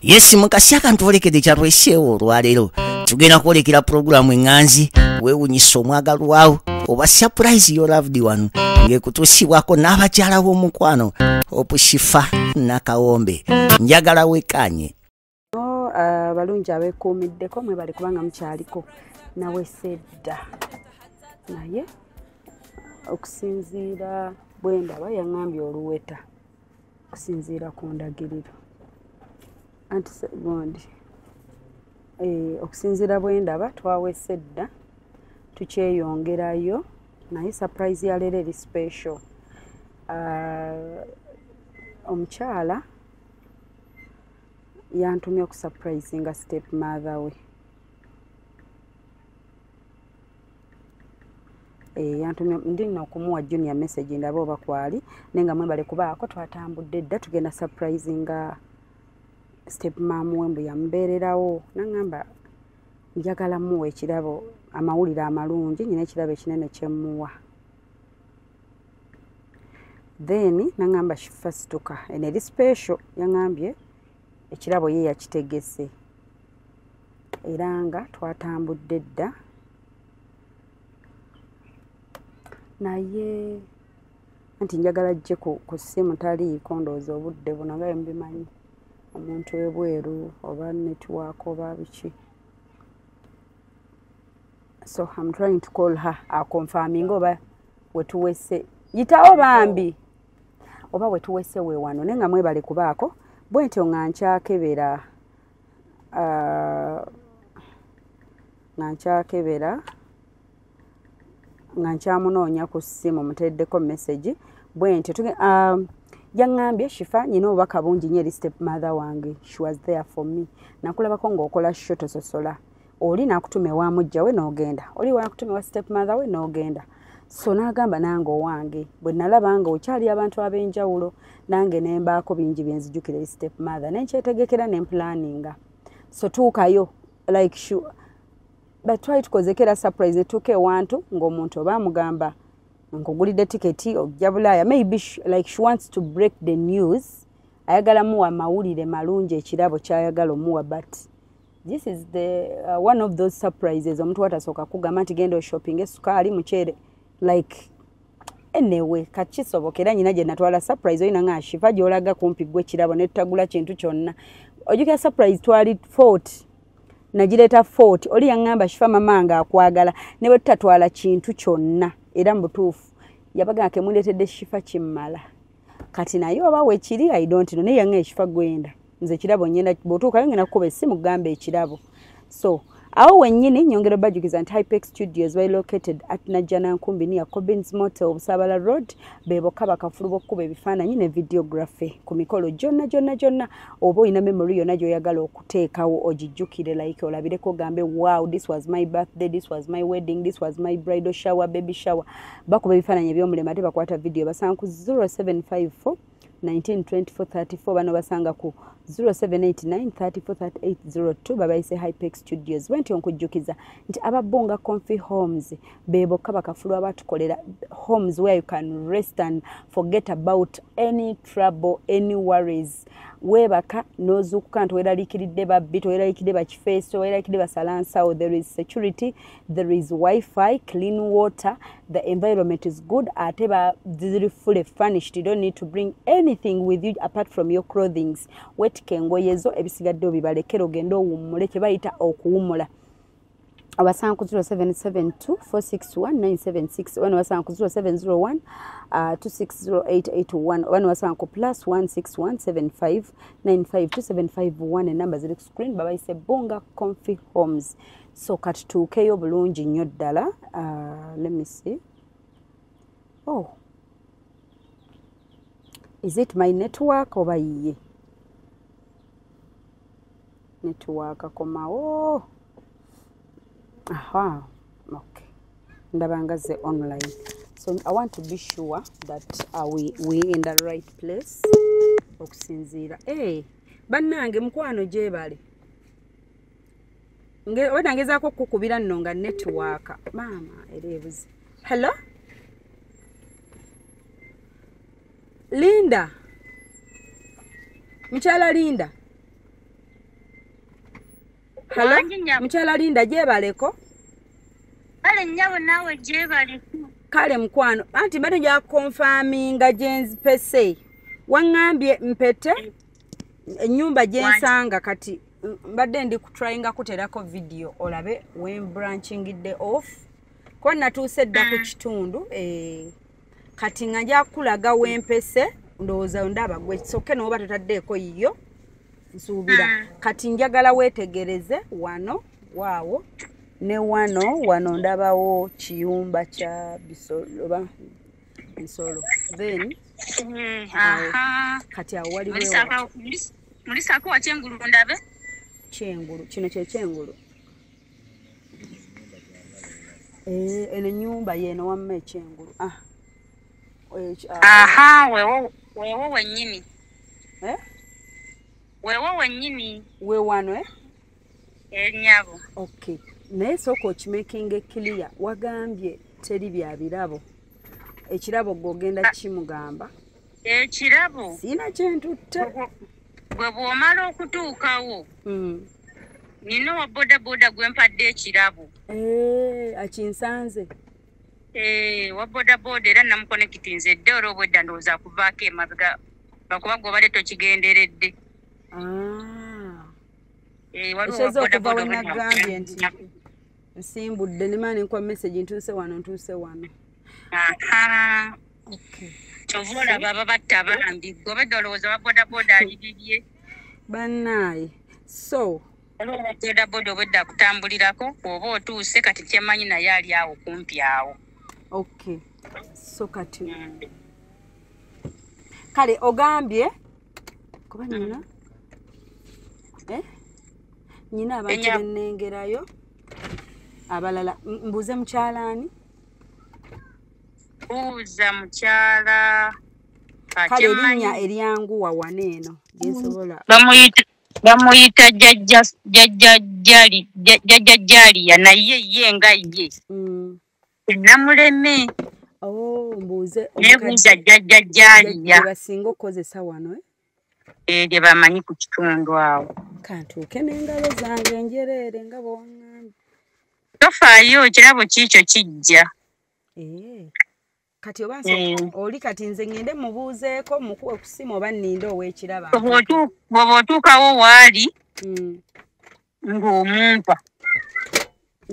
yesi mukasi akantu olekede kyalweseewo olwaleero tugenda kwolekera pulogulaamu eŋŋanzi weewunyisa omwagalwawo oba surprise yo loved one ng'ekutuusibwako n'abakyala b'omukwano opushifa nakawombe njagala wekaanye abalungi ah, abekuumiddeko mwebali kubanga mukyaliko nawe sedda naye okusinziira bwendaba yaŋambye oluweta okusinziira ku ndagiriro anti segondi eh, okusinziira bwendaba twawesa edda tukyeyongerayo naye surprise yaleero eri special ah, omukyala uh, yantumye okusurprisinga step mother we Eh, yantumye ndi no kumuwa junior message ndaba oba kwali naye nga mwebale kubaako twatambudde dda tugenda surprise nga step mam we mbu yamubeererawo naŋamba njagala muwa ekirabo amawulire amalungi nyina ekirabo ekinene kyemuwa then naŋamba shifa situka eno eri special yaŋambye ekirabo ye yakitegese era nga twatambudde dda naye anti njagala jje ku simu taliiko ndowooza obudde buno nga byemubimanyi omuntu ebweru oba network oba biki so I'm trying to call her aconfirming oba wetuwese yitawo bambi oba wetuwese wewano naye nga mwebale kubaako bwentyo nga nkyakebera uh, nga nkyakebera nga nkyamunoonya ku ssimu muteddeko message bwentyo um, yaŋŋambye shifa nyina obubaka bungi nyo eri step mother wange she was there for me nakulabako ng'okola sho tososola oli nakutuma ewa mujja we n'ogenda oli wanakutuma ewa step mother we n'ogenda so n'agamba nange owange bwe nalaba nga okyali abantu ab'enjawulo nange ne mbaako bingi bye nzijukira eri step mother ne nkyetegekera ne mpulaninga so tuukayo like sure but twali tukozekera surprise netuuka ewantu ng'omuntu oba amugamba nkugulidde tiketi okujja bulaaya maybe she, like she wants to break the news ayagala muwa mawulire malungi ekirabo kyayagala omuwa but this is the uh, one of those surprises omuntu watasooka kugamba nti genda oshopping esukaali muceere like enewe kakisoboka era nyina gyenatwala surprise olina nga shiva gyolaga kumpi gwe kirabo netutagula kintu kyonna ojukira surprise twali fort nagireeta fort oli yaŋŋamba shifa mama nga akwagala ne bwe tutatwala kintu kyonna era mu butuufu yabaga kemuleetedde shifa kimmala kati naye oba wekiri i don't know naye nga ekifa gwenda nze kirabo nyenda botuukayo ngenda kukuba esimu gamba ekirabo so awo wenyini nyongera obajukiza nti hypex studios bali located at najjana nkumbi niya cobins motel obusabala road beboka bakafulu bokukuba ebifaananyi ne videography ku mikolo gyonna gyonna gyonna oba olina memory yonna gyoyagala okuteekawo ogijjukire like olabireko gambe wow this was my birthday this was my wedding this was my bridal shower baby shower bakuba ebifaananyi ebyomulema ate bakwata vidiyo basanga ku 0754 192434 bano basanga ku 0789343802 babayise hypex studios bwentyo nkujjukiza nti ababonga confi homes bebokka bakafulu abatukolera homes where you can rest and forget about any trouble any worries webaka nozukuka nti weraliikiridde babbi toweraliikiridde bakifeesi toweraliikiridde basalansawo there is security there is wifi clean water the environment is good ate ba ziri fully furnished you don't need to bring anything with you apart from your clothings wetika engoye zo ebisigadde obibalekera ogende owummule kye bayita okuwumula abasanga ku 0772461976 oba newasanga ku 0701260881 uh, oba newasanga ku plus 1617595275 enamba ziri ku screen babayise bunga confi homes so katutuukeyo bulungi nnyo ddala uh, let me see oh is it my network oba yiye network komawo oh. aha okay ndaba nga ze online so i want to be sure that uh, we, we in the right place okusinziira hey. Eh. bannange mukwano gyebale oba nangezaako okukukubira nno nga netiwaaka maama era ebuzi hello linda mukyala linda Halo, Wangi nyabo. mukyala linda gyebaleko Kale nyabo nawe gyebali. kale mukwano anti mbadde nja konfaminga gyenzipese waŋŋambye mpete ennyumba gyensanga kati m- mbadde ndi kutrayinga kuterako vidiyo olabe wembranchingidde off kuba natuuse dda ku kitundu eh, kati nga nja kukulaga wempese ndowooza ndaba gwe soke nooba totaddeeko yiyo nsuubira hmm. kati njagala weetegereze wano waawo ne wano wano ndabawo kiyumba kya bisoloba ensolo then hmm, kati awo waliwomulisaako wa kyengulu ndabe kyengulu kino kyekyengulu Eh, eno enyumba yeeno wamma ekyengulu ah. ah. aha wewo wenyini eh? wewo wenyini wewano e eh? nyabo ok naye sooka okimakinga ekiliya wagambye teri bya birabo ekirabo gwe ogenda kimugamba ekirabo sina kyentutte bwe bw'omala okutuukawo hmm. nina owa bodaboda gwe mpadde ekirabo eh, akinsanze eh, wa bodaboda era namukonekitinze edde olwo obwedda ndowooza kuvaako emabega lwakuba gwe obadde tokigenderedde ah. eh, ekyeza okuva wenagambye nti nsimbudde nemana nenkuwa message ntuuse wano ntuuse wano kyova olaba babatta bambi gwe obadde olowooza wa bodaboda ali bibye bannaaye so bodaboda obwedda akutambulirako oba otuuse kati kyemanyi naye ali awo kumpi awo ok so kati mm. kale ogambye kuba nina mm. eh? nyina abantu benengerayo abalala mbuuze mukyalaani buuza mukyala kale erinnya eryangu wawana eno gyesobola bamuyita bamuyita jajajaliya naye ye nga ye mm. namuleme oh, mbuuze nebuuza jajajaliya basinga okukozesa wano eh? eh, lye bamanyi ku kitundu awo kantuuke nengalo zange njereere nga bwongambi tofaayo kirabo kiikyo kijja Eh. kati oba nso Eh. oli kati nze ngende mubuuzeeko mukuwe ku ssimu oba nninde ow'ekiraba Bw'oba otu- bw'oba otuukawo waali Mm, ng'omumpa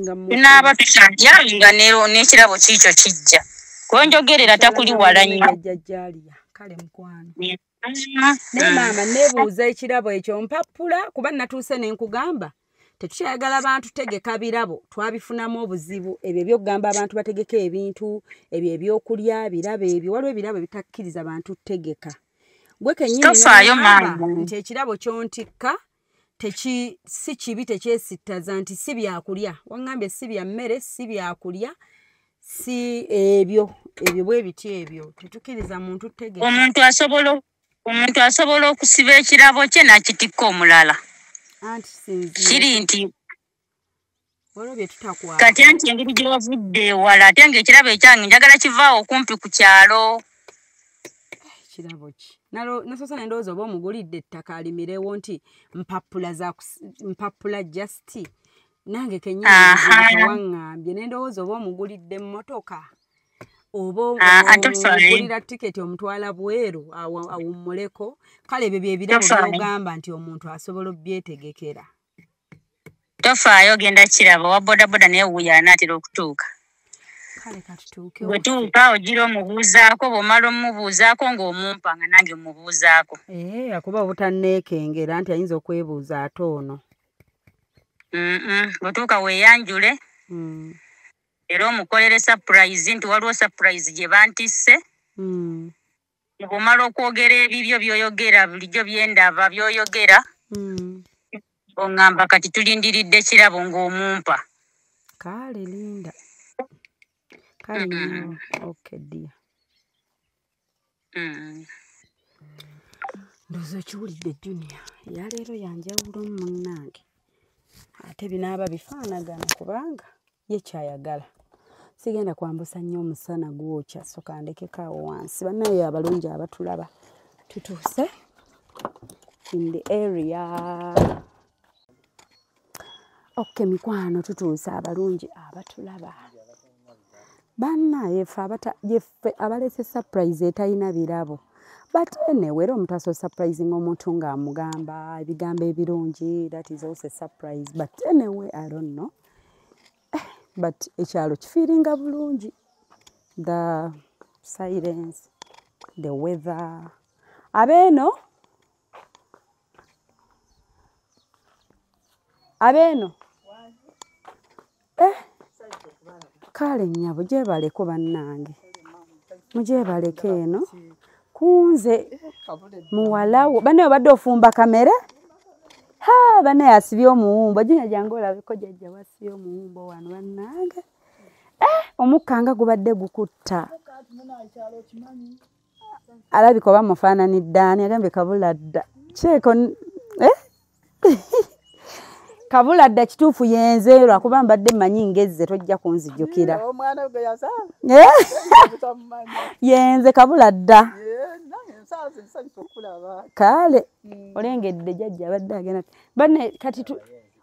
nga mu- tunaaba tukyalya nga ne- n'ekirabo kiikyo kijja kwenjogerera takuli wala nnyo Jjajja Jaaliya. kale mukwano naye maama nebuuza ekirabo ekyo mpappula kuba natuuse nenkugamba tetukyayagala bantu tegeka birabo twabifunamu obuzibu ebyo ebyokugamba abantu bategeka ebintu ebyo ebyokulya birabo ebyo waliwo ebirabo ebitakkiriza bantu tegeka gwe kenyini nti ekirabo kyontikka si kibi tekyesittaza nti si byakulya waŋŋambye si bya mmere si byakulya si ebyo ebyo bwe biti ebyo tetukkiriza muntu tegee omuntu asobola omuntu asobola okusiba ekirabo kye nakitikka omulala kiri nti kati anti engeri gyewavudde ewala ate nga ekirabo ekyange njagala kivaawo okumpi ku kyalo kirabo ki nasosa nendowooza oba omugulidde ettaka alimirewo nti mpapula mpapula just nange kenyiniwaŋambye nendowooza oba omugulidde mmotoka oba ah, ah, ogulira tiketi omutwala bweru awummuleko kale ebyo byebirabo byogamba nti omuntu asobola obyetegekera tofaayo ogenda kiraba owa bodaboda naye wuyo anaatera okutuuka bwetuuka ogira omubuuzaako bwomala omubuuzaako ng'omumpa nga nange omubuuzaako eh, akuba obutanneekengera nti ayinza okwebuuza ate ono bwetuuka weeyanjule mm. era omukolere sapurayizi nti waliwo sapurayizi gye bantisse mm. bwomala okwogera ebibyo byoyogera bulijjo byendaba byoyogera mm. ongamba kati tulindiridde kirabo ngaomumpa kale linda kale mm. okay dear mm. ndoza okiwulidde junia yaleero yanjawulo mumunange ate binaaba bifaanagana kubanga ye kyayagala sigenda kwambusa nnyo omusana gwokya soka ndekeko awo wansi banaye abalungi abatulaba tutuuse in the area ok mikwano tutuuse abalungi abatulaba banna yefe abata yefe abalese surprise etayina birabo but anyway era omuntu asobola surprising omuntu ng'amugamba ebigambo ebirungi that is also a surprise but anyway i don't know eh, but ekyalo kifiiringa bulungi the silence the weather abeeno abeeno eh. kale nyabo gyebaleko bannange mugyebaleko eno kunze muwalawo banaye obadde ofumba kamere ha banaye asibye omuwumbo jinya jange olabeko jajja wasibye omuwumbo wano bannange eh, omukka nga gubadde gukutta alabika oba mufaananidde ani agambye kabula dda kyeko eh? kabula dda kituufu yenze lwakuba mbadde mmanyi ngezze tojja kunzijukira eh? yenze kabula dda kale hmm. olengedde jajja abadde agenda bane kati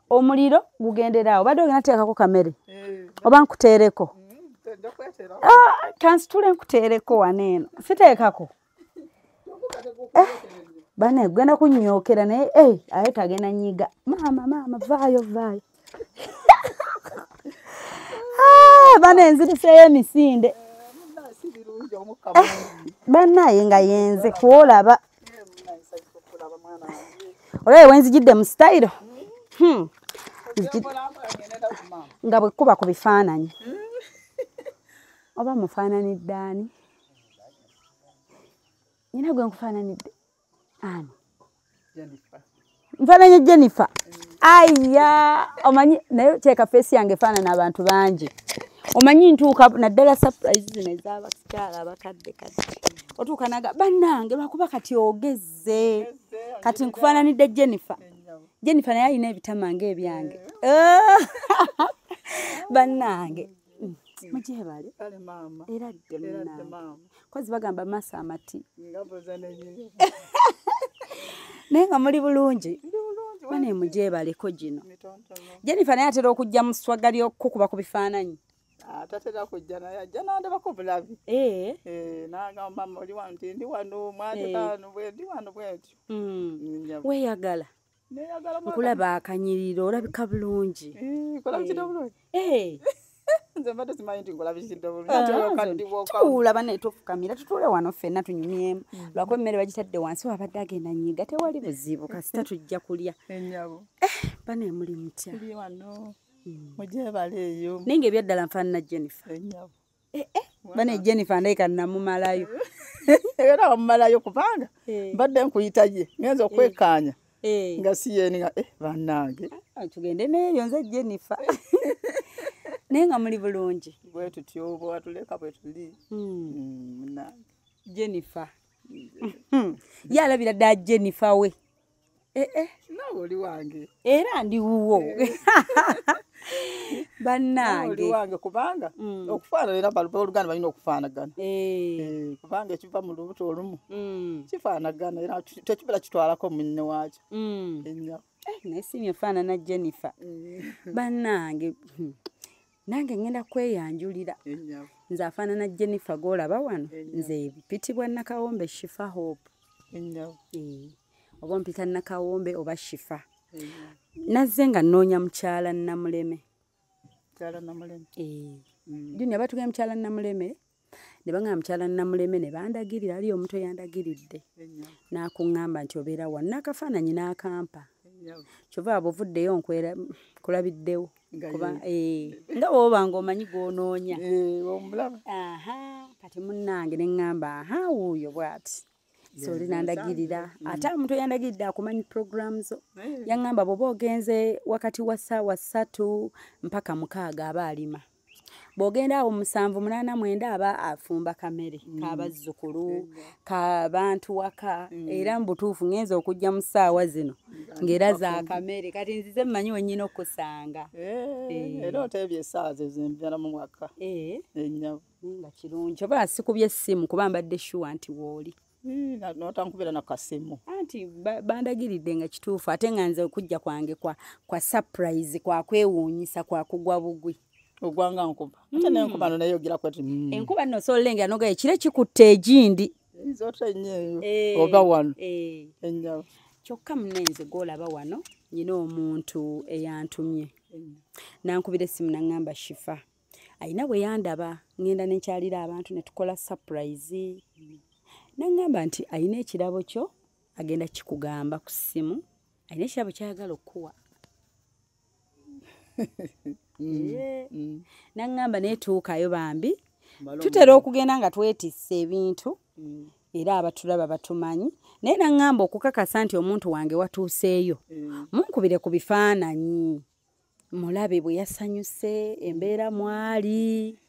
omuliro gugendera awo badde ogenda teekako kamere eh. oba nkuteereko mm, ah, kansitule nkuteereko wano eno siteekako eh, bane genda kunyokera naye eh, aye kagenda nyiga maama maama vaayo vaayo ah, bane enziriseeyo emisinde banaye nga yenze kwolaba olaba wenzijidde mu sitayiro hmm. nga bwekuba ku bifaananyi oba mufaananidde ani nyina gwe nkufaananidde ani nfananye jennifer aya omanyi naye teeka feesi yange efaanana abantu bangi omanyi ntuuka naddala surprise zino ezabakyala abakadde kati otuuka naga bannange lwakuba kati ogezze kati nkufaananidde jennifer jennifer naye alina ebitama nga ebyange bannange Mm. mugyebale era ddemunakozi bagamba maaso amati naye nga muli bulungi bane mugyebaleko gino jenifa naye atera okujja mu swaga lyokukuba ku bifaananyi Ah, tatera kujja naye ajja nandabako bulabi eh. Eh, nagamba mama oli wano ti ndi wano mwatekaano eh. bwendi wano bwentyo mm. mm, weyagala nkulaba akanyiriro olabika bulungi eh, eh. tuula bana etufukamira tutuule wano ffenna tunyumyemu hmm. lwakuba emmere bagitadde wansi wabadde agenda nyiga tewali buzibu kasita tujja kulya bana emuli mutya hmm. naye nga ebyaddala nfaanana jennifer eh, eh, bane jennifer ndayika namumalayo era wamumalayo kubanga eh. mbadde nkuyita ye ngenza okwekaanya nga si yeni nga bannange ah, tugende neeyo nze jennifer naye nga muli bulungi bwetutyo bwewatuleka bwetuli hmm. hmm, jennifer yalabira dda jennifer we Eh, eh. nawe oli wange era ndi wuwo eh. bannange wange kubanga mm. okufaanana era oluganda balina okufaanagana kubanga ekiva mu lubuto olumu mm. kifaanagana era tekibeera kitwalako munne waakyo mm. enyo naye simye faanana jennifer bannange hmm. nange ngenda kweyanjulira nze afaanana jennifer golaba wano nze mpitibwa nakawombe shifa hope eh, oba mpita nakawombe oba shifa nazze nga nnoonya mukyala namuleme eh, mm. junior batugee mukyala namuleme ne bangamba mukyala namuleme ne bandagirira aliyo omuntu eyandagiridde n'akuŋŋamba nti obeera wa n'akafaananyi n'akampa kyova aba ovuddeyo nkwera kulabiddewo kuba eh, nga woba nga omanyi gwonoonya eh, kati munnange ne ŋŋamba aha wuuyo bwati soli nandagirira mm. ate omuntu eyandagiridde akumanyi programu zo eh. yaŋŋamba bwoba ogenze wakati wa ssaawa ssatu mpaka mukaaga aba alima bwogenda awo musanvu munana mwenda aba afumba kamere mm. kabazzukulu kabantu waka mm. era mubutuufu ngenza okujja mu ssaawa zino ngaera za kamere kati nzize mmanyi wenyina okusanga eh, eh. era oteebye essaawa zezimbala mu mwaka eh. enyabo nga kirungi oba sikubye essimu kuba mbadde shuwa nti wooli Hmm, notankubira nakasimu anti bandagiridde nga kituufu ate nga nze okujja kwange kwa, kwa surprise kwakwewuunyisa kwakugwa bugwi ogwanga nkuba ate mm. nenkuba no nayogera kwati mm. enkuba no sololengera noga ekire kikutte egindi nzota enyeyo eh, oba wano eh. enyawo kyokka munenze gwolaba wano nyina omuntu eyantumye mm. nankubira essimu naŋŋamba shifa alina bwe yandaba ŋŋenda ne nkyalira abantu ne tukola sapurayizi naŋŋamba nti alina ekirabo kyo agenda kikugamba ku ssimu alina ekirabo kyayagala okukuwa mm, mm. naŋŋamba naye tuukayo bambi tutera okugenda nga twetisse ebintu mm. era abatulaba batumanyi naye naŋŋamba okukakasa nti omuntu wange watuuseeyo munkubire ku bifaananyi mulabe bwe yasanyuse embeera mwali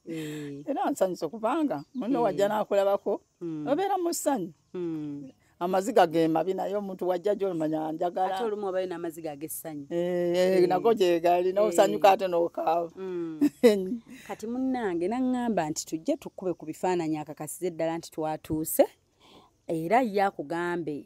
eh. era nsanyuse kubanga muno eh. wajja nakulabako hmm. obeera mu ssanyu hmm. amaziga gemabi naye omuntu wajja gyolumanya njagalaamazigagessanyu eh, nago gyegali nosanyuka ate nokaawa hmm. kati munange naŋŋamba nti tujje tukube ku bifaananyi akakasiza eddala nti twatuuse era ye akugambe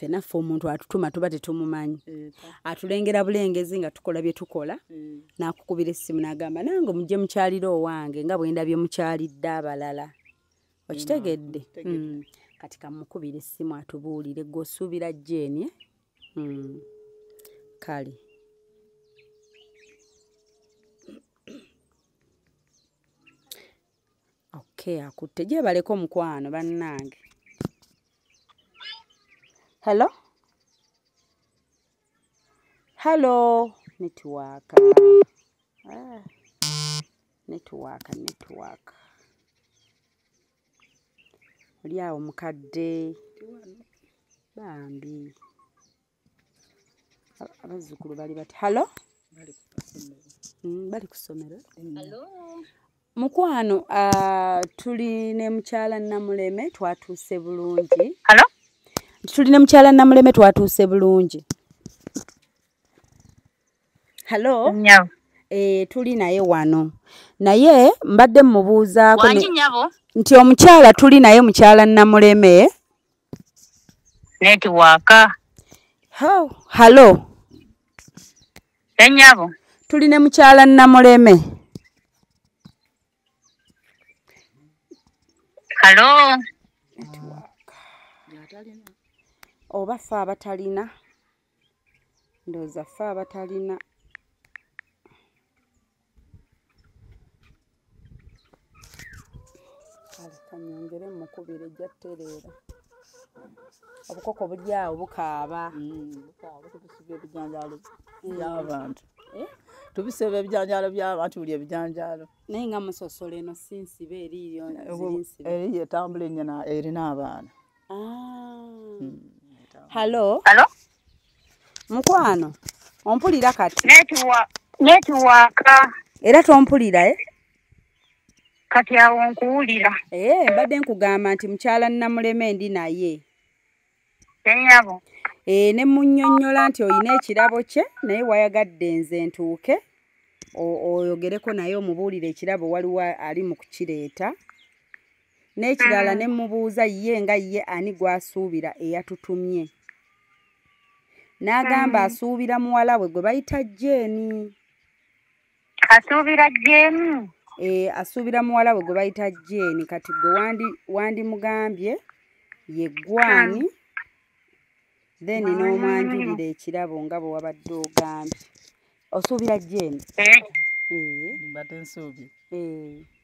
fenaffe omuntu atutuma tuba tetumumanyi eh, atulengera bulengezi nga tukola bye tukola eh. nakukubira essimu nagamba nange mujje mukyalira owange nga bwendabye mukyalidde abalala okitegedde hmm. kati kamukubira essimu atubuulire gwe osuubira jeeni eh? hmm. kale okay akutte gyebaleka omukwano bannange hello hello netiwaaka ah. netiwaaka netiwaaka oli awo mukadde bambi abazzukulu bali bati halo bali ku ssomero mm, mukwano ah, tuli ne mukyala namuleme twatuuse bulungi tuli ne mukyala namuleme twatuuse bulungi halo eh, tuli naye wano naye mbadde mmubuuzaako nti omukyala tuli naye mukyala namuleme netiwaaka halo enyabo tuli ne mukyala namuleme halo oba fe abatalina ndowooza ffe abatalina kale kanyongere mukubira ejja tereera obukoko buli awo bukaaba ebijanjaalo byabantu tubiseba ebijanjaalo byabantu buli ebijanjaalo naye nga musosola eno sinsiba eriyo eriyo etambula enyana erina abaana halo halo mukwano ompulira kati netiwaka era tompulira e kati awo nkuwulira ee eh, mbadde nkugamba nti mukyala namuleme ndi naye enyabo ee eh, ne munyonyola nti olina ekirabo kye naye wayagadde nze ntuuke oyogereko naye omubuulire ekirabo waliwo ali mu kukireeta n'ekirala ne mmubuuza ye nga ye ani gw'asuubira eyatutumye n'agamba asuubira muwala we gwe bayita jeeni asuubira jeeni ee asuubira muwala we gwe bayita jeeni kati gwe wandimugambye ye gwani then n'omwanjulira ekirabo nga bwe wabadde ogambye osuubira jeeni eh. ee eh. mbadde nsuubye ee eh.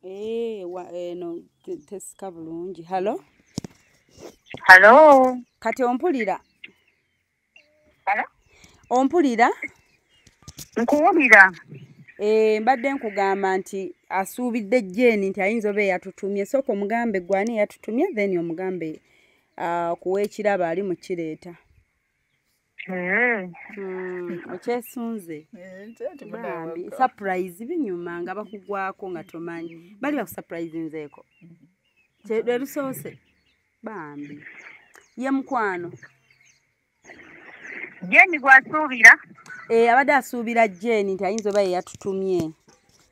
Eh, wa- eno te- tesika bulungi halo Hello. kati ompulira Hello? ompulira Nkuwulira. Eh, mbadde nkugamba nti asuubidde jeeni nti ayinza oba eyatutumye sooka omugambe gwe ani eyatutumye then omugambe ah, ku w'ekirabo ali mu kireeta Mm. Mm, okyesunze Eh, nti- nti bambi munaawaka. surprise binyuma nga bakugwako nga tomanyi bali bakusupurizinzeeko Kye- lwe lusoose bambi ye mukwano jeni gwasuubira Eh, abadde asuubira jeni nti ayinza oba yeyatutumye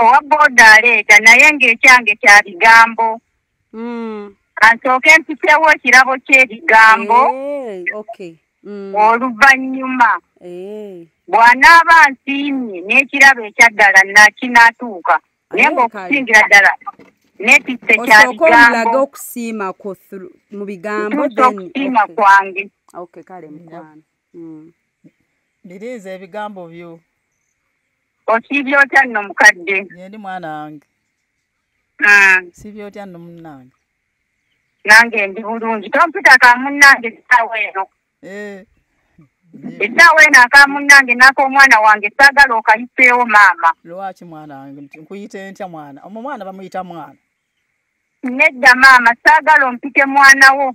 owa booda aleeta naye ng'ekyange kya bigambo hmm. kansooke mpiseewo ekirabo ky'ebigambo eh, hmm. oluvannyuma eh. bw'anaaba nsiimye n'ekirabo ekyaddala nakinatuuka naye ng'okusingira ddala netisse kya bigambo okusiima kwo mu bigambo okusiima kwange kale mukwano hmm. biriiza ebigambo byo osiibye otya nno mukadde yendi mwana wange ah. siibye otya nno munnange nange ndi bulungi tompita ka munnange essaawa eno eh. essaawa eno aka munnange naaka omwana wange saagala okayiseewo maama lwaki mwana wange nkuyite ntya mwana omu mwana bamuyita mwana nedda maama saagala ompite mwana wo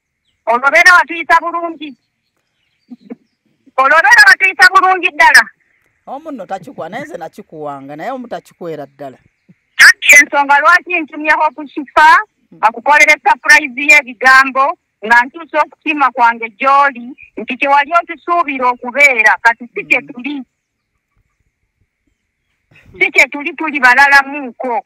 olwobeera watuyisa bulungi olwobeera watuyisa bulungi ddala omu nno takikuwa naye nze nakikuwanga naye omu takikwera ddala anti ensonga lwaki ntumyeho okushifa akukolere sapurayizi y'ebigambo nga ntuusa okusiima kwange gy'oli nti kyewali otusuubira okubeera kati si kyetuli si kyetuli tuli balalamuuko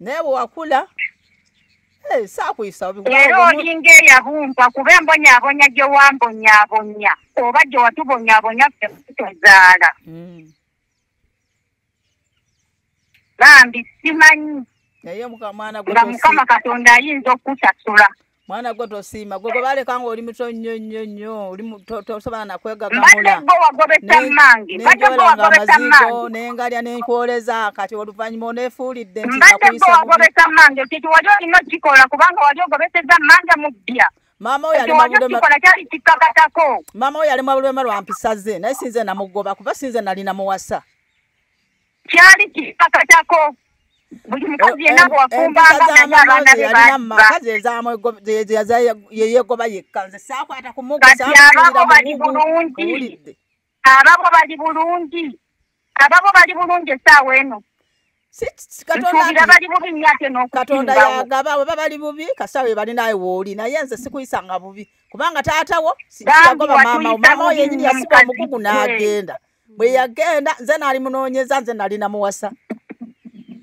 naye bwewakula eh, saakuyisa era olinga eyabumba kuba embonyabonya gye wambonyabonya oba gye watubonyabonya ffe tuzaala hmm. bambi simanyi naye mwana nga mukama katonda ayinza okukusasula mwana gwe tosiima gwe gwebaleka nga oli muto nnyo nnyo nnyo tosobola nakwegagamaolanenjolanga amazigo nengalya nenkwoleza kati oluvannyuma onefuulidde ntiakuyisamange kintu wali olina okikola kubanga wali ogobeseza manja mu bbya maama oyo ali mabulwema lwa mpisa ze naye sinze namugoba kuba sinze nali namuwasa kyali kikakatako buli mukazi eh, yenna bwafumbanga eh, naye abaana be bayeyegoba yekka nze saakwata kumugati ababo bali bulungi ababo bali bulungi ababo bali bulungi esaawa eno katonda yagaba weba bali bubi kasita webali naye wooli naye nze sikuyisanga bubi kubanga taatawo yagoba maama maama yenyini yasiba omugugu n'agenda bwe yagenda nze naali munoonyeza nze nali namuwasa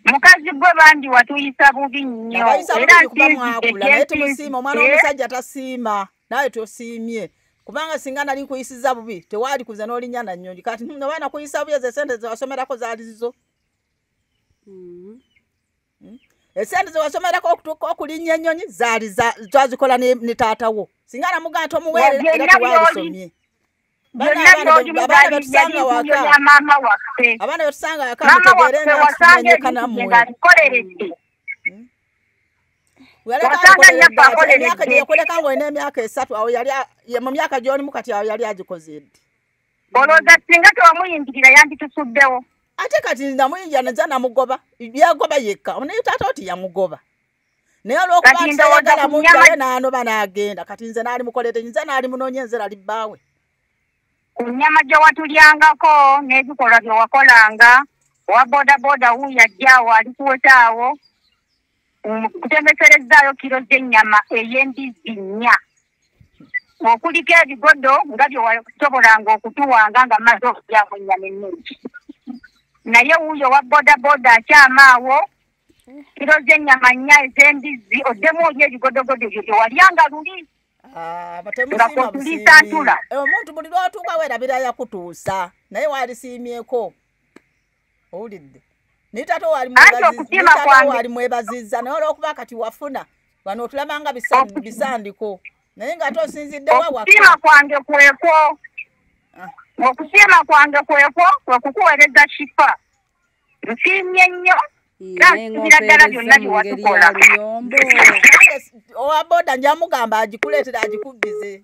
mukazi gwe bandi watuyisa bubi nnyo era nsinzitenaye tumusiima omwana w'omusajja tasiima nawe tosiimye kubanga singa nali nkuyisiza bubi tewaali kuze n'olinya na nnyonyi kati nga baana kuyisa bubi ezo esente zewasomerako zaali zizo mm -hmm. hmm? esente zewasomerako okutuuka okulinnya ennyonyi zaali twazikola ne taata wo singa namugaa nti omuweerera era tewalisomye abaana betusanga wakamutegeereyakuleka ngaolina emyaka esatu awo yali mu myaka gyolimu kati awo yali agikoze ddi olowooza singa tewamuyingirira yanditusuddewo ate kati namuyingira naja namugoba yagoba yekka naye taata oti yamugoba naye olwokuba ntayagala munjaye nanoba nagenda kati nze naali mukolete nze naali munonye nze lali bbaawe ku nyama gye watulyangako n'ebikolwa bye wakolanga owa bodaboda wuuyo ajja awo ali kuweta awo kutembeserezzaayo kiro z'ennyama ey'embizzi nnya okuliko ebigodo nga bye wasobolanga okutuwanga nga maze okujaamu ennyama ennungi naye wuuyo wa bodaboda akyama awo kiro z'ennyama nnya ez'embizzi oddemu oli ebigodogodo ebyo bye walyanga luli ah, nga kwetuliisa ntula eh, omuntu buli lwatuuka weerabira yakutuusa naye waalisiimyeko owulidde naye taata owali mwebaziza naye olwokuba kati wafuna wano otulaba nga bisandiko naye nga ate osinziddewa wakusiima kwange kwekwo ah. okusiima kwange kwekwo kwekukuwereza kifa nsiimye nnyo owaboda njamugamba agikuleetera agikubbize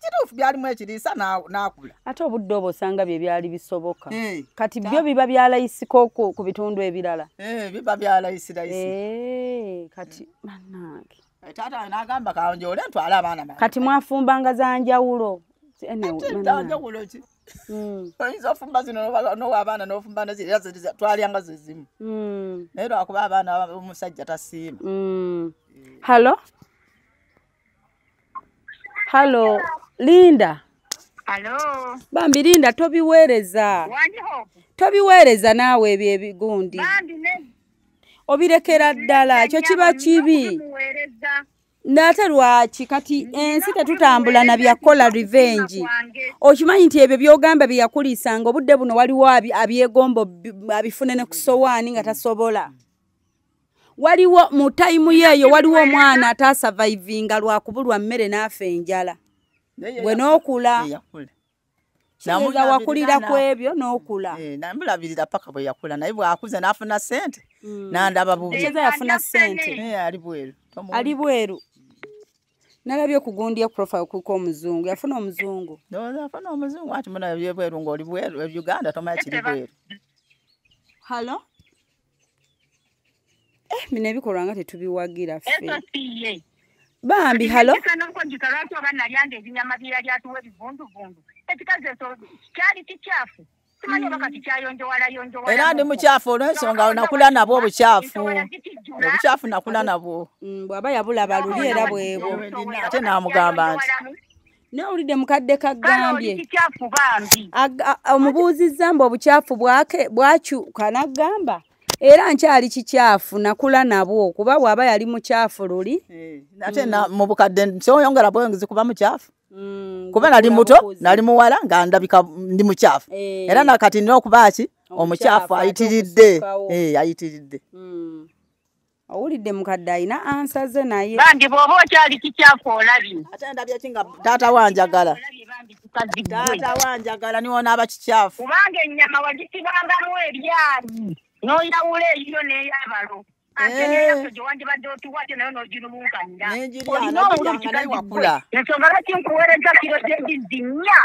kituufu byalimu ekiriisa n'akula ate obudde obwo osanga bye byali bisoboka eh, kati byo biba byalayisiko ku bitundu ebirala eh, biba byalayisilayisi eh, kati banange taata nagamba kanjole ntwala abaana kati mwafumbanga za njawulo njawulo ki Mm. oyinza ofumba zino nowa abaana nofumba twalyanga zezimu mm. naye lwakuba abaana omusajja tasiima mm. hallo halo linda Hello. bambi linda tobiweereza Wandi hope. tobiweereza naawe ebyo ebigundi Bambi ne. obirekera ddala ekyo kiba kibi Muwereza. naate lwaki kati ensi tetutambula na byakukola revenge okimanyi nti ebyo byogamba byeyakuliisanga obudde buno waliwo abi- abyegomba obi- abifune ne ku sowaani nga tasobola waliwo mu tayimu yeeyo waliwo omwana ataasavaivinga lwakubulwa mmere n'afa enjala gwe n'okula kiyinza wakulira ku ebyo n'okula eh, namulabirira paka bwe yakula naye bwakuze n'afuna sente hmm. nandaba bubieza yafuna sente eh, ali bweru ali bweru nalabye okugundya profile kuko omuzungu yafuna omuzungu afuna omuzungu ati munabye bweru ng'oli bweru e uganda tomanya kiri bweru hallo eh, bino ebikolwa nga tetubiwagira fe bambi halo era ndi mukyafu olwensonga onakula nabwo obukyafu obukyafu nakula nabwo mm, bwaba yabulaba luli era bwebwo ate namugamba nti nawulidde mukadde kagambye omubuuzizza mbu obukyafu bwake bwakyuka nagamba era nkyali kikyafu nakula nabwo kuba bwaba yali mukyafu luli eh, ate mm. mubukadde kyoyongera bweyongezi kuba mukyafu mm, kuba nali muto nali muwala nga ndabika ndi mukyafu eh. era nakati nina okuba ki omukyafu ayitiridde eh, ayitiridde mm. owulidde mukadde alina ansa ze naye bambi bwoba okyali kikyafu olabi ate ndabye ki nga taata wanjagala taata wanjagala niwonaaba kikyafu kubanga ennyama wagisibangamu ebyali noyawula eyiyo neyabalo ensonga lwaki nkuweereza kiro gyembizzi nnya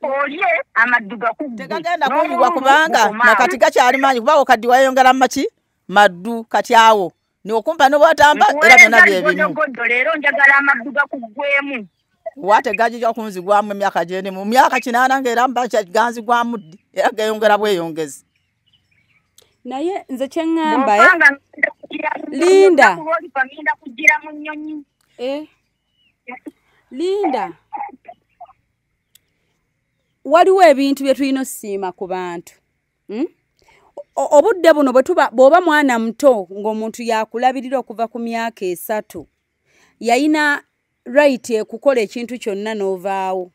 olye amaddu gakutegagenda kuyiwa kubanga nakati gakyali mangi kubawo kaddi wayongera mumaki maddu kati awo nokumpa nobwatamba era byona byebimugodo leero njagala amaddu gakuggwemu wate gajija kunzigwamu emyaka gyene mu myaka kinaana ngaera mba ganzigwamu ddi era geyongera bweyongezi naye nze kyeŋŋamba eh? linda eh? linda waliwo ebintu bye tulina ossiima ku bantu hmm? obudde buno bw'oba mwana muto ng'omuntu yakulabirira okuva ku myaka esatu yayina rayiti ekukola ekintu kyonna n'ovaawo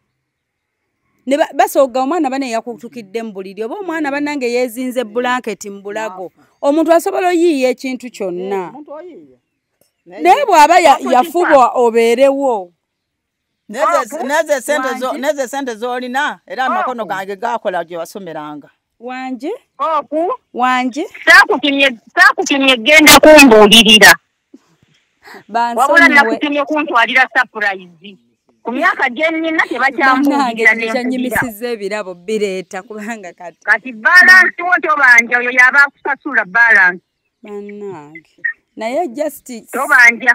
basooga omwana bane yakutukidde mu buliri oba omwana banange yeezinze bulanketi mu bulago omuntu asobola oyiiya ekintu kyonna eh, naye bw'aba yafuba obeerewo nezo esente zolina era amakono gange gakola gye wasomeranga wanje oku wanje sakutumye sakutumye genda kumbulirira wabula nakutumye kuntwalira surprise ku myaka gyenina tebakyambuulirannyimisiza ebirabo bireeta kubanga kati kati balansi wo tobanja oyo yaba akusasula balansi banange naye just tobanja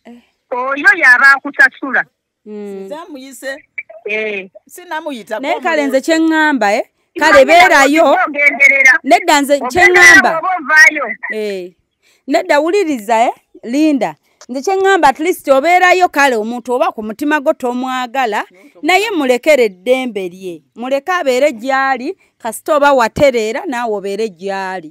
eh. oyo yaba akusasula mm. nze amuyise eh. sinamuyita naye kale nze kyeŋŋamba e kale beerayo nedda nze kyeŋŋamba eh. nedda wuliriza e linda nze kyeŋŋamba at least obeerayo kale omuntu oba ku mutima gwo tomwagala naye mulekere eddembe lye muleke abeere gyali kasita oba watereera naawe obeere gyali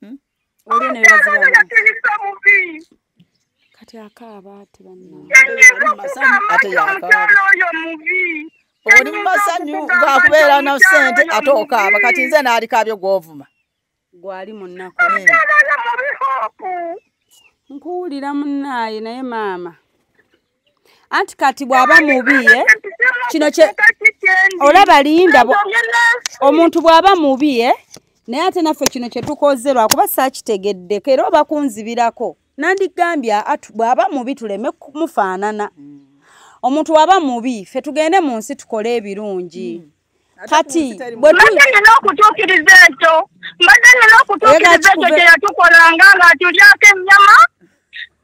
Hmm? kati akaaba ati oli mumasanyu gakubeera na sente ate okaaba kati nze naalikaabyo gwovuma gwali munaku nkuwulira munaaye naye maama anti kati bw'aba mubi ye kino kye olaba linda omuntu bw'aba mubi ye naye ate naffe kino kye tukoze lwakuba saakitegeddeko era oba kunzibirako nandigambye bw'aba mubi tuleme kumufaanana mm. omuntu waba mubi ffe tugende mu nsi tukole ebirungi mm. kati mbadde nina okutuukiriza ekyo mbadde nina okutuukiriza ekyo kye yatukolanga ng'atulyako ennyama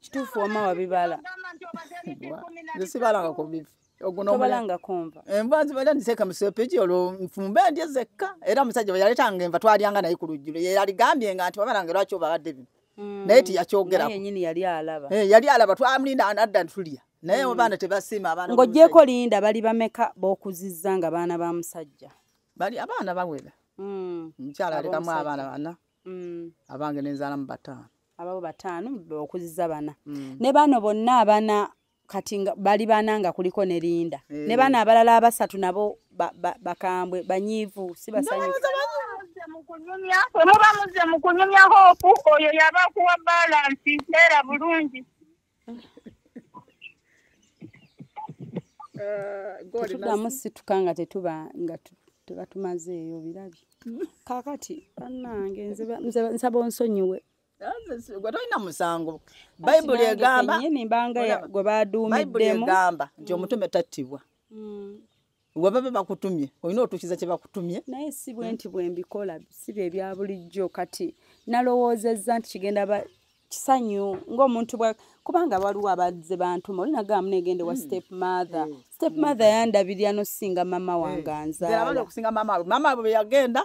kituufu wama wabibala zisibalanga ku bifi ogunobalangaknva enva eh, nzibala ndiseka musepiki olwo nfumbe ndye zekka era omusajja bwe yaleetanga enva twalyanga naye ku lujjulo ye yaligambye nga nti babalanga lwaki obabadde bino mm. naye tiyakyogerayali eh, alaba twamulinda anadda ntulya naye mm. abaana tebasiima abaana ng'ogyeko linda bali bameka b'okuzizza nga baana ba musajja bali abaana bawera mm. omukyala alekamu abaana bana mm. abange nenzalamu bataano ababo bataano okuziza bana mm. ne bano bonna abana kati bali bana nga kuliko ne linda hey. Eh. ne bana abalala abasatu nabo bakambwe ba, ba banyiivu si basanyufu muba muze mukunyumya hope oyo yabakuwa balansi era bulungi uh, tudamu situka nga tetuba nga tuba tumaze eyo birabye kakati banange nsaba onsonyiwe gwe tolina musango bayibuli egamba gwe baduumiddemu egamba nti omutume tattibwa mm. webaba bakutumye olina otuukiza kye bakutumye naye si bwe nti bwe mbikola si bye bya bulijjo kati nalowoozezza nti kigenda ba kisanyu ng'omuntu bwa kubanga waliwo abazze bantuma oli nagamba negende wa hmm. step mother hmm. step hmm. mother yandabirira nosinga mama wange anzaalaokusinga mama we mama we yagenda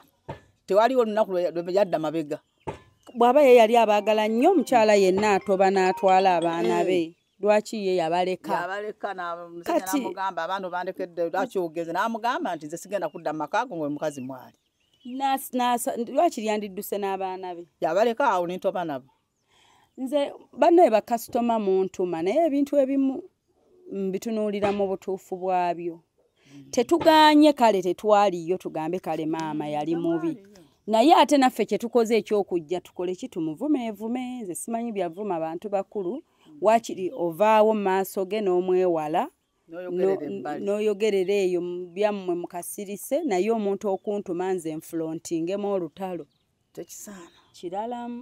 tewaliwo olunaku yadda mabega bw'aba ye yali abaagala nnyo omukyala yenna atoba n'atwala abaana be lwaki ye yabaleka yabaleka namugamba abaana obandekedde lwaki ogenze namugamba nti nze sigenda kudda mu maka go ngaoyo mukazi mwali lwaki lyandidduse n'abaana be yabaleka awo nintoba nabo nze banaye bakasitoma muntuma naye ebintu ebimu mbitunuulira mu butuufu bwabyo tetuganye kale tetwaliyo tugambe kale maama yali mubi naye ate naffe kyetukoze ekyokujja tukole ki tumuvumeevume nze simanyi byavuma bantu bakulu wakiri ovaawo maaso ge n'omwewala n'oyogerera eyo byammwe mukasirise naye omuntu okuntuma nze nfulontingemu olutalo tekisaana kiralamu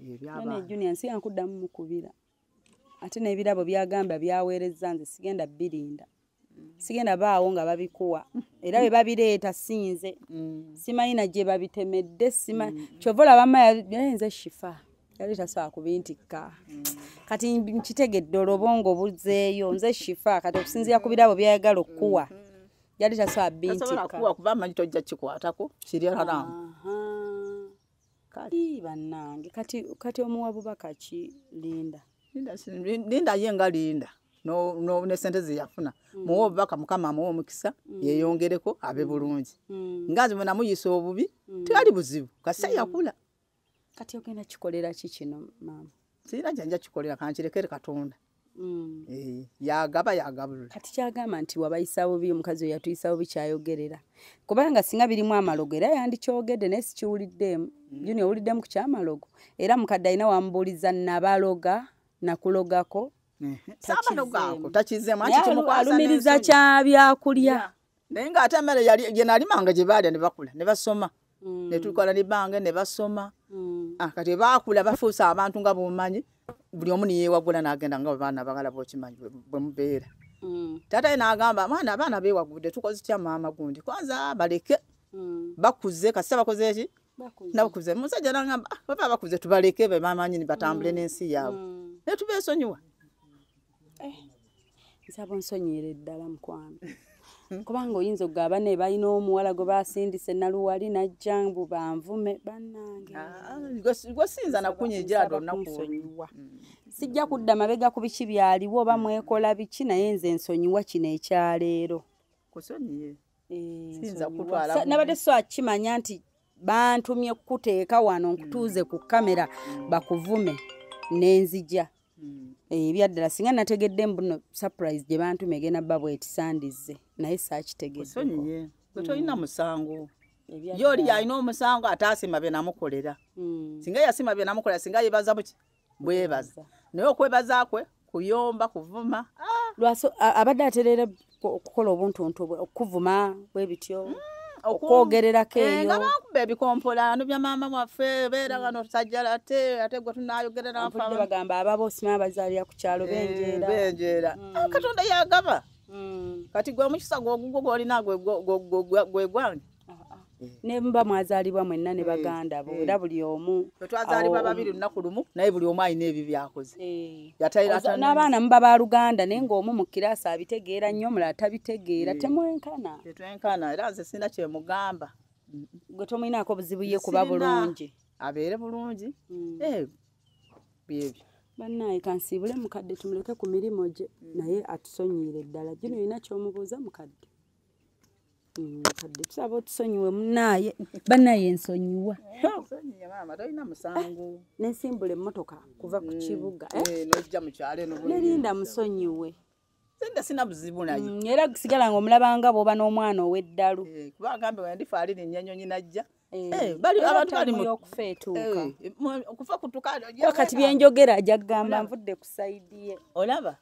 ebyabaana junior nsi yankuddamu mukubira ate n'ebirabo byagamba byaweerezza nze sigenda birinda sigenda baawo nga babikuwa era bwe babireeta sinze mm. simanyi na gye babitemedde sima mm. kyova olabama yalinze shifa yali tasobola kubintikka mm. kati nkitegedde olobongo buzeeyo nze shifa kati okusinziira ku birabo byayagala okukuwa mm-hmm. yali tasobola bintikka kuba manyi tojja kikwatako kiri haramu kati banange kati kati omuwa bubaka ki linda linda linda ye nga linda no no ne sente ze yafuna mm. muwo bubaka mukama muwo mukisa mm. yeyongereko abe mm. bulungi mm. ngazi mwe namuyisa obubi mm. tali buzibu kasa mm. yakula kati ogenda kikolera ki kino mama sira janja kikolera kankirekere katonda Mm. Eh, yagaba yagabula kati kyagamba nti wabayisa bubi omukazi oyo yatuyisa bubi kyayogerera kubanga singa birimu amalogo era yandikyogedde naye sikiwuliddeemu mm. juni owuliddemu ku kyamalogo era mukadde alina wamubuuliza nabaloga nakulogako alumiriza kyabyakulya naye nga ate emere gyenalimanga gyebaalya nebakula nebasoma mm. netukola nebange nebasoma mm. ah, kati bakula bafuusa abantu nga bumanyi buli omu niyewagula nagenda nga baana bagala bokimanyi bwemubeera mm. tata nagamba mwana abaana bewagude tukoze tya maama gundi kwanza baleke bakuze kasita bakoze eki nabakuze musajja nagamba ah, baba bakuze tubaleke bemamanyini batambule nensi yaabwe netubesonyiwa eh, nsaba onsonyere ddala mukwano kubanga oyinza okugaba ne balina omuwala gwe basindise naluwali najja mbu banvume banangegosinza ah, nakunyejadonnakusonyiwa mm. sijja kudda mabega ku biki byaliwo oba mwekola biki naye nze nsonyiwa kino ekyaleero eh, nabadde so akimanya nti bantumye kukuteeka wano nkutuuze ku kamera bakuvume nenzija hmm. eh, ebyaddala singa nategedde mbuno surprise gye bantume egenda bba bwetisandizze naye saakitegeddeosonyiye gwe tolina hmm. musango yooli yalina omusango ate asima byenamukolera hmm. singa yasima byenamukolera singa yebaza buki bwebaza naye okwebaza kwe kuyomba kuvuma ah! lwaso abadde atereera okukola obuntuntu bwe okuvuma bwe bityo mm, okwogererako eh, eyo nga bakuba ebikompolano bya maama waffe beera mm. wano tusajjala ate ate gwe tunayogererabagamba ababo sima abazaalira ku kyalo eh, benjeera benjeera mm. ah, katonda yagaba kati gwe omukisa gwogugwo gwolina gwegwange nemba mwazalibwa mwenna ne baganda bo era buli omu twazalibwa babiri lunaku lumu naye buli omu alina ebi byakoze eh. n'abaana muba ba luganda naye ng'omu mu kiraasi abitegeera nnyo omulala tabitegeera eh. temwenkana tetwenkana era nze sirina kyemugamba gwe tomulinaako buzibu ye kuba bulungi abeere bulungi hmm. eh, byebyo bannaye kansiibule mukadde tumuleke ku mirimu gye hmm. naye atusonyiire ddala gino olina kyomubuuza mukadde Mm, kadde tusaba otusonyiwe munaaye banaye nsonyiwa nensimbula emmotoka kuva ku mm, kibuga eh? Eh, nerinda musonyiwe sente sina buzibu naye mm, era sigala nga omulabanga bwoba n'omwana ow'eddalu eh, kuba agambe wandifa ali nennyanyonyi najja okufa kutukakati byenjogera ajja kugamba nvudde ku saidi ye olaba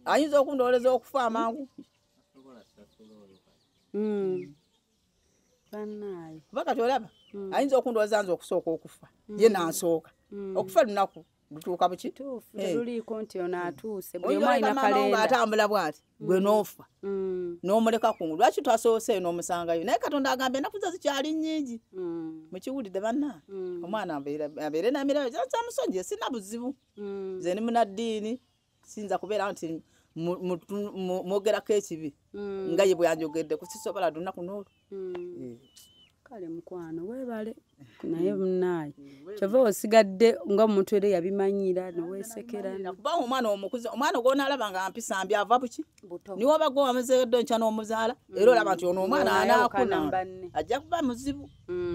ayinza okundowoleza okufa amangu Mm. banaye kuba kati olaba mm. ayinza okundowooza nze okusooka okufa mm. ye nansooka okufa lunaku lutuuka bukituufuliiko eh. nti ono atuuse nga atambula bwati gwe noofa n'omuleka ku lwaki twasoose eyo n'omusangayo naye katonda agamba enaku ze zikyali nnyingi mukiwulidde banna omwana abeere namirabo kyamusonyiye sina buzibu ze ni munaddiini siyinza kubeera nti mwogerako ekibi mm. nga ye bweyanjogedde kusisobola lunaku noolu mm. eh. kale mukwano webale naye mm. munaaye kyova osigadde nga omuntu era yabimanyira newesekera kuba omwana omukuze omwana gwonalaba nga mpisa mbi ava buki niwoba gwe wamuzeedde nkya n'omuzaala era olaba nti ono omwana anaakuna ajja kuba muzibu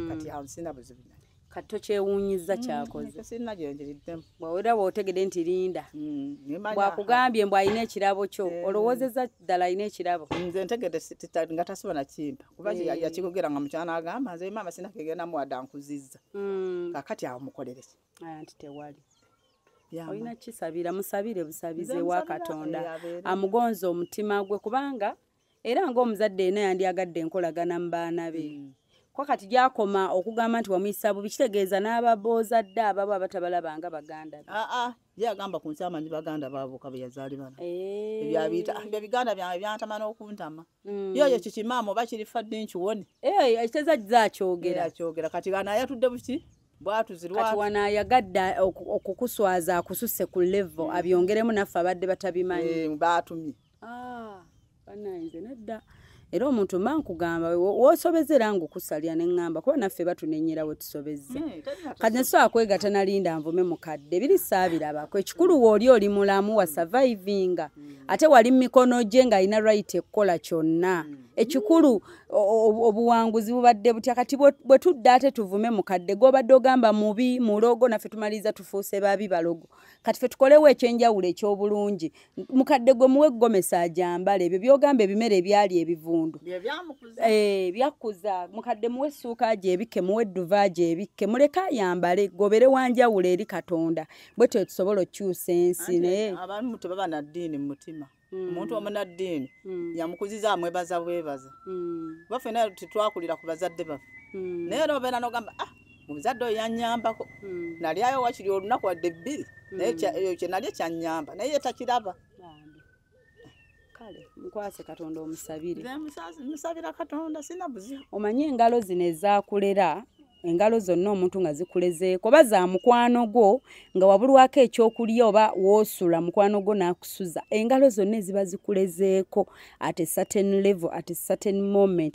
kati ansina buzibu kati tokyewuunyiza mm, kyakozesinagyenjiriddemu bwawera bwotegede nti linda mm, bwakugambye mbu alina ekirabo kyo eh. olowoozeza ddala alina ekirabo nze ntegede nga tasobola nakimpa kuba eh. yakigogera nga mukyana agamba nze maama sinakegenda muwada nkuzizza mm. kakati awo mukolereki aya nti tewali olina kisabira musabire busabize wa katonda amugonza omutima gwe kubanga era ng'omuzadde yena yandyagadde enkolagana mu baana be mm. kwa kati gyakoma okugamba nti wamuyisa bubi kitegeeza n'ababoozadde ababo abatabalaba nga baganda be aa ah, ah, ye agamba ku nsi amanyi baganda baboka be yazaali bana eh. ebyabiyita ah, ebyo biganda byange byantama n'okuntama mm. yoyo kikimaama oba kiri fadde nkiwone eh, ekiteeza kiza akyogera akyogera kati ana yatudde buki bwatuzirwati wano ayagadde okukuswaza akususe ku levo mm. abyongeremu naffe abadde batabimanyi eh, baatumye Ah, bananze nedda era omuntu mba nkugamba wosobeza era ngaokusalira ne ŋŋamba kuba naffe batunenyera we tusobezza hmm, kati ne sobola kwegata nalinda nvume mukadde biri saabirabako ekikulu wooli oli mulamu wa survivinga hmm. ate wali mu mikono gye ng'alina right ekukola kyonna hmm. ekikulu obuwanguzi bubadde butya kati bwe tudde ate tuvume mukadde gobadde ogamba mubi mulogo naffe tumaliriza tufuuse babi balogo kati fe tukolewo ekyenjawulo ekyobulungi mukadde gwe muwe gomesa ajambala ebyo byogamba ebimere ebyali ebivundu eh, byakkuza mukadde muwe essuuka gyebikke muwe edduva gyebikke muleke ayambale gobere wanjawulo eri katonda bwe tyo tusobola okukyusa ensi naye abamu tebaba na ddiini mu mutima Mm. omuntu omunaddiini mm. yamukuziza amwebaza bwebaza mm. baffe naye tetwakulira ku bazadde baffe naye era obeera nogamba ah omuzadde oyo yanyambako hmm. nalyayo wakiri olunaku wadde bbiri hmm. naye eyo kyenalye kyanyamba naye yetakiraba kale mukwase katonda omusabire musabira katonda sina buzi omanyi engalo zino ezakulera engalo zonna omuntu nga zikulezeeko oba za mukwano gwo nga wabulwako ekyokulya oba woosula mukwano gwo n'akusuza engalo zonna eziba zikulezeeko at a certain level at a certain moment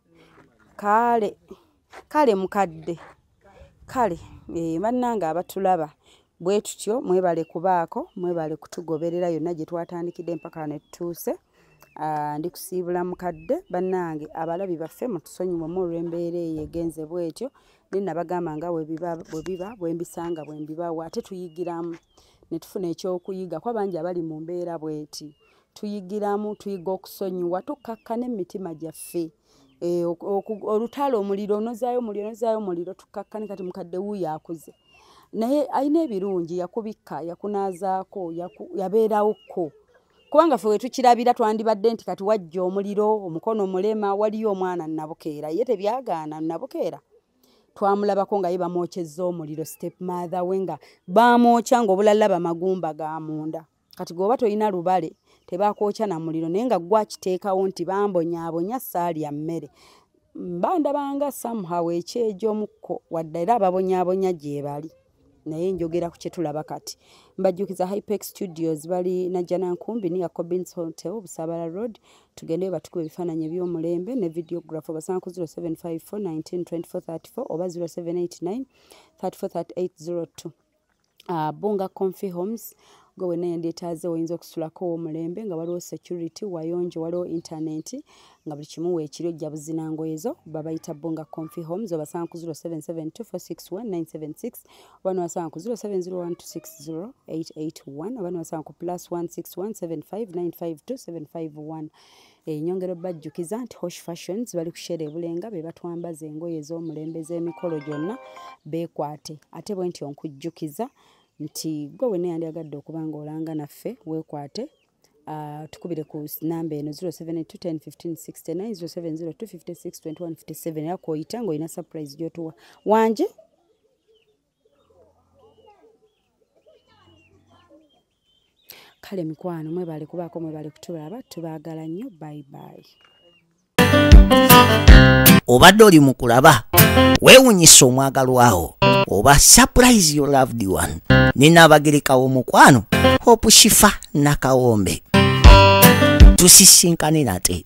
kale kale mukadde kale eh, bannange abatulaba bwe tutyo mwebale kubaako mwebale kutugoberera yonna gye twatandikidde empaka wano etutuuse ah, ndi kusiibula mukadde bannange abalabi baffe mutusonyiwemu olw'embeera eyo egenze bwetyo naye nabagamba nga bwe biba bwe mbisanga bwe mbibawa ate tuyigiramu ne tufuna ekyokuyiga kuba bangi abali mu mbeera bweti tuyigiramu tuyiga okusonyiwa tukkakkana emitima gyaffe eh, olutalo omuliro onozaayo omuliro onozaayo omuliro tukkakkane kati mukadde wuuyo akuze naye alina ebirungi yakubikka yakunaazaako yabeerawo kko kubanga fe wetukirabira twandibadde nti kati wajja omuliro omukono omulema waliyo omwana nabukeera ye tebyagaana nabukeera twamulabako nga ye bamwokyezza omuliro step mother we nga bamwokya ngaobulala bamagumba ga munda kati gwoba tolina lubale tebakwokya na muliro naye nga gwakiteekawo nti bambonyabonya saalya mmere mbandabanga somehow ekyejomukko wadde era ababonyabonya gyebali naye njogera ku kyetulaba kati mbajjukiza hypex studios bali najjana nkumbi niya cobins hotel obusabala road tugendeyo batukuba ebifaananyi ebyomulembe ne videograph obasanga ku 0754 192434 oba 0789 343802 uh, bunga confi homes gwe wena yendetaaze oyinza okusulako omulembe nga waliwo security wayonjo waliwo internet nga buli kimu weekiri ojja buzina ngoye zo babayita bunga confi homes obasanga ku 0772461976 oba nowasanga ku 0701260881 oba nowasanga ku plus 1617595275 Eh, nyongera obbajjukiza nti hosh fashions bali kusheera ebulenga be batwambaza engoye ez'omulembe z'emikolo gyonna beekwate ate bwe nti onkujjukiza nti gwe wenna yandyagadde okuba nga olanga naffe weekwate ah, tukubire ku namba eno 0721515697 era kwoyita ng'olina surprise gy'otuwa wanje kale mikwano mwebale kubaako mwebale kutulaba tubaagala nnyo bayibayi obadde oli mu kulaba weewunyisa omwagalwawo oba surprise your loved one ninaabagereka w'omukwano hope shifa nakawombe tusisinkane nate